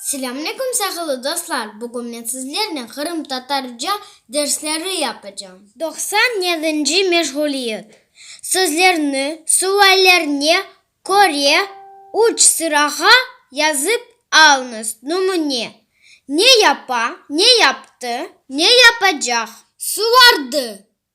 Selâm aleyküm sağılı dostlar, bugün men sizlernen qırımtatarca dersleri yapacağım. Doqsan yedinci meşğuliyet. Sözlerni suallerine köre üç sırağa yazıp alıñız. Numune, Ne yapa, Ne yaptı, Ne yapacaq. Suvardı,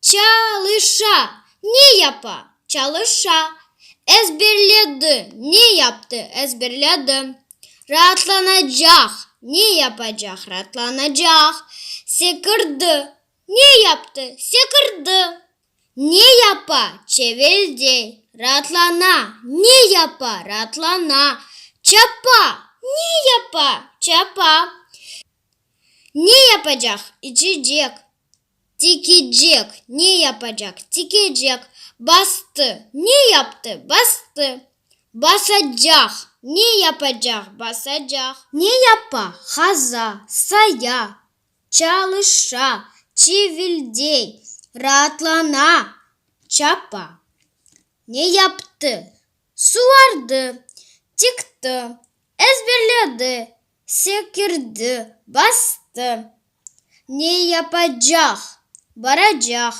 Çalışa, ne yapa? Çalışa. Ezberledi, ne yaptı? Ezberledi. Raatlanacaq, ne yapacaq? Raatlanacaq. Sekirdi, ne yaptı? Sekirdi. Ne yapa? Çeveldey. Raatlana, ne yapa? Raatlana. Çapa, ne yapa? Çapa. Ne yapacaq? İçecek. Tikecek, ne yapacaq? Tikecek. Bastı, ne yaptı? Bastı. Basacaq, ne yapacaq? Basacaq. Ne yapa? Qaza, saya, çalışa, çivildey, raatlana, çapa. Ne yaptı? Suvardı, tiktı, ezberledi, Sekirdi, bastı. Ne yapacaq? Baracaq,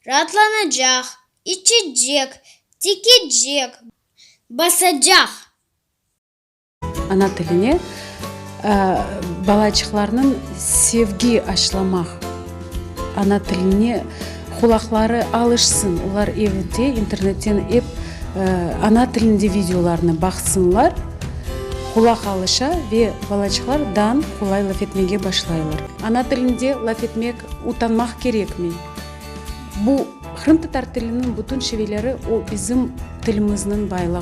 raatlanacaq, içecek, tikecek, basacaq. Ana tiline balaçıqlarnıñ sevgi aşılamaq, ana tiline. Qulaqları alışsın, olar evde internetten ep ana tilinde videolarnı baqsınlar, qulaq alışa ve balaçıqlar dan qolay laf etmege başlaylar. Ana tilinde laf etmek utanmaq kerekmi? Bu, qırımtatar tiliniñ bütün şiveleri, o bizim tilimizniñ baylığı.